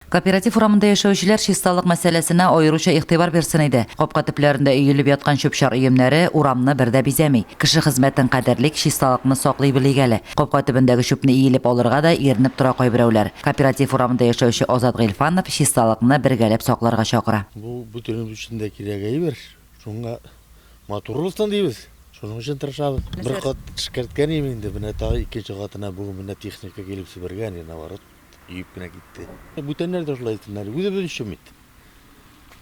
Кооператив урамында яшәүчеләр чисталык мәсьәләсенә аеруча игътибар бирсен иде. Капка төпләрендә өелеп яткан чүп-чар өемнәре урамны бер дә бизәми. Кеше хезмәтен кадерлик, чисталыкны саклый белик әле. Капка төбендәге чүпне иелеп алырга да иренеп тора кайберәүләр. Кооператив урамында яшәүче Азат Гыйльфанов чисталыкны бергәләп сакларга чакыра. Бу бөтенебез өчен дә кирәк әйбер. Шуңа матур булсын дибез. Шуның өчен тырышабыз. Бер кат эшкәрткән идем инде, менә тагы икенче катына бүген менә техника килеп себергән, наоборот. Өеп кенә китте. Бүтәннәр дә шулай итсеннәр, үзебез өчен бит.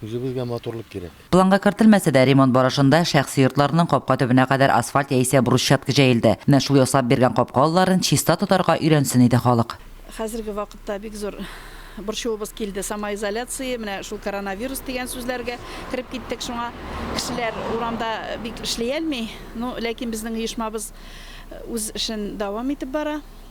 Үзебезгә матурлык кирәк. Планга кертелмәсә дә, ремонт барышында шәхси йортларның капка төбенә кадәр асфальт яисә брусчатка җәелде. Менә шул ясап биргән капка алларын чиста тотарга өйрәнсен иде халык. Хәзерге вакытта бик зур борчуыбыз килде, самоизоляция, менә шул коронавирус дигән сүзләргә кереп киттек. Шуңа кешеләр урамда бик эшли әлми. Ну, ләкин безнең оешмабыз үз эшен дәвам итеп бара.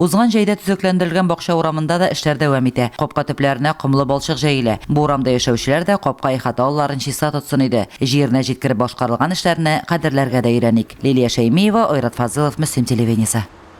Узган җәйдә төзекләндерелгән бакча урамында да эшләр дәвам итә. Капка төпләренә комлы балчык җәелә. Бу урамда яшәүчеләр дә капка ихата алларын чиста тотсын иде. Җиренә җиткереп башкарылган эшләрне кадерләргә дә өйрәник. Лилия Шәймиева, Айрат Фазылов, Мөслим телевидениесе.